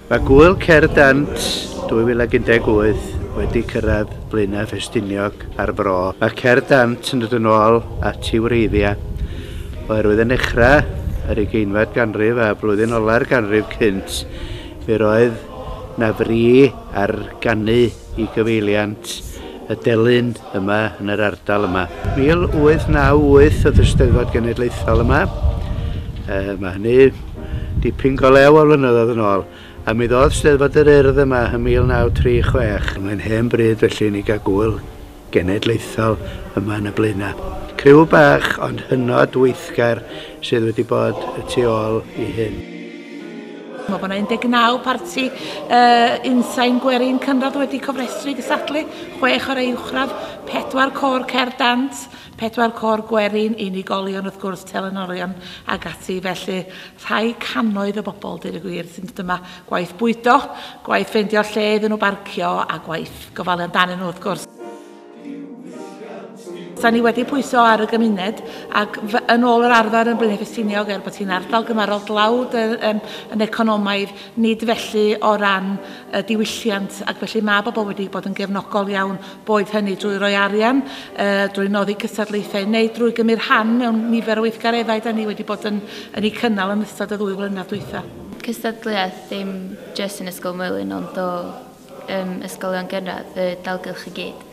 Mae Gŵyl Cerdd Dant 2018 wedi cyrraedd Blaenau Ffestiniog a'r Fro. Mae Cerdd Dant yn dod yn ôl at ei wreiddiau oherwydd yn nechrau yr ugeinfed ganrif a blwyddyn ola'r ganrif cynt fe roedd na fri ar ganu i gyfeiliant y delyn yma yn yr ardal yma. 1898 oedd y Steddfod Genedlaethol yma. E, mae hynny dipyn go lew o flynyddoedd yn ôl. A mi ddodd Steddfod yr Urdd yma yn 1936. Mae'n hen bryd felly ni gael gwyl genedlaethol yma yn y blaenau. Criw bach ond hynod weithgar sydd wedi bod y tu ôl i hyn. Mae bod 19 parti uh, unsain gwerin cynradd wedi cofrestru gysadlu, chwech o'r uwchradd, pedwar cor cer dant, pedwar cor gwerin, unigolion wrth gwrs, telenorion ag ati. Felly rhai cannoedd o bobl, dyn y gwir, sy'n dod yma gwaith bwydo, gwaith ffeindio lle iddyn nhw barcio a gwaith gofalu amdanyn nhw wrth gwrs. Da ni wedi pwyso ar y gymuned ac yn ôl yr arfer yn Blaenau Ffestiniog er bod hi'n ardal gymarol dlawd y, um, yn economaidd, nid felly o ran y diwylliant ac felly mae bobl wedi bod yn gefnogol iawn boed hynny drwy roi arian, uh, drwy noddi cystadlaethau neu drwy gymryd rhan mewn nifer o weithgareddau da ni wedi bod yn, yn ei cynnal yn ystod y ddwy flynedd dwytha. Cystadleuaeth ddim jyst yn Ysgol Mwylyn ond o ym ysgolion gynradd y dalgylch i gyd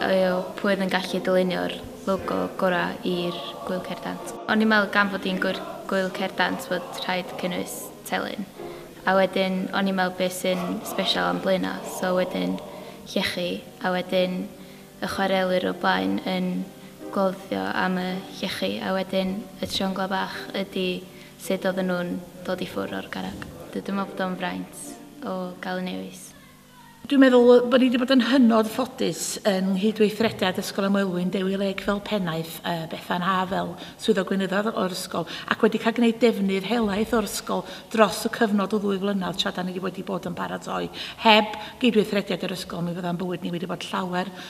yw pwy oedd yn gallu dylunio'r logo gorau i'r Gwyl Cerdant. O'n i'n meddwl gan fod hi'n Gwyl Cerdant fod rhaid cynnwys telyn. A wedyn o'n i'n meddwl beth sy'n sbesial am Blaenau, so wedyn llechi, a wedyn y chwarelwyr o blaen yn cloddio am y llechi, a wedyn y trionglau bach ydi sut oedden nhw'n dod i ffwrdd o'r garreg. Dw dwi'n meddwl bod o'n fraint o gael un newydd. Dwi'n meddwl bod ni wedi bod yn hynod ffodus yng nghydweithrediad Ysgol y Moelwyn, Dewi Lake fel pennaeth, a Bethan Haf fel Swyddog Gweinyddol o'r ysgol, ac wedi cael gwneud defnydd helaeth o'r ysgol dros y cyfnod o ddwy flynedd tra da ni wedi bod yn paratoi. Heb gydweithrediad yr ysgol mi fydda'n bywyd ni wedi bod llawer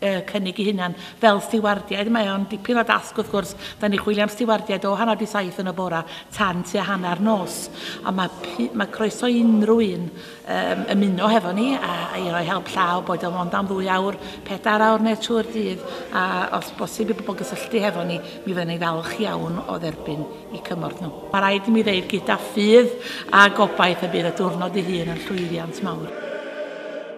cynnig eu hunain fel stiwardiaid. Mae o'n dipyn o dasg wrth gwrs, da ni chwilio am stiwardiaid o hanner di saith yn y bora tan tua hanner nos. Ond mae, mae croeso i unrhyw un um, ymuno hefo ni a, a i roi help llaw, boed o'n ond am ddwy awr, pedair awr neu trwy'r dydd, a os bosib i bobl gysylltu hefo ni, mi fyddwn ni falch iawn o dderbyn i cymorth nhw. Mae rhaid i mi ddeud gyda ffydd a gobaith y bydd y diwrnod ei hun yn llwyddiant mawr.